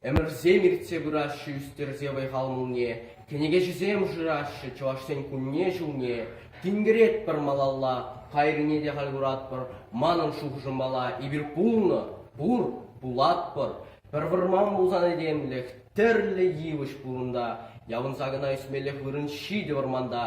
Ӗмӗрсем иртсе пыраҫҫӗ ӳстерсе вӑй-хал мулне, кӗнекеҫӗсем шыраҫҫӗ Чӑвашсен кунне-ҫулне. Тинкеретпӗр малалла, кайрине те халь куратпӑр. Манӑн шухӑшӑм мала эпир пулнӑ, пур, пулатпӑр. Пӗр вӑрман пулсан этемлӗх, тӗрлӗ йывӑҫ пурӑнта. Явӑнса кӑна ӳсмеллех вырӑн ҫитӗ вӑрманта.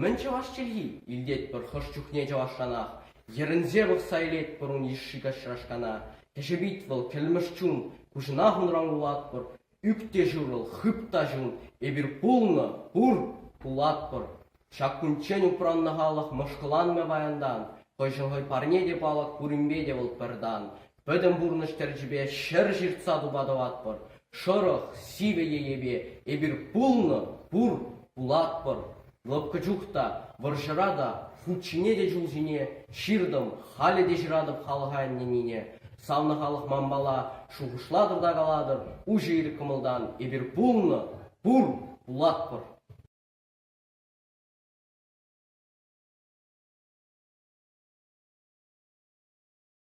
Мӗн чӑваш чӗлхи? илтетпӗр хӑш чухне чӑвашранах. Йӗрӗнсе пӑхса илетпӗр ун йышши каҫрашкана. Кӗҫӗпит вӑл кӗлмӗш чун, куҫӑнах унран кулатпӑр. Ӳк те ҫурӑл, хып та ҫун, эпир пулнӑ, пур, пулатпӑр. Ҫак кунччен упраннӑ халӑх мӑшкӑланмӗ паянтан, хӑйшӗн хӑй парне те палӑк пуринпе те вӑл пӗр тан. пӗтӗм пурнӑҫ тӗрчипе ҫӗр ҫыртса тума тӑватпӑр. Шӑрӑх, сивӗ йӗпе эпир пулнӑ, пур, пулатпӑр. Лӑпкӑ чух та, вӑрҫӑра та, хут ҫине те ҫул ҫине ҫыртӑм, халӗ те ҫыратӑп халӑха ӗненнине. Савнӑ халӑх манпала шухӑшлатӑр та калатӑр, уҫӑ ир кӑмӑлтан эпир пулнӑ, пур, пулатпӑр.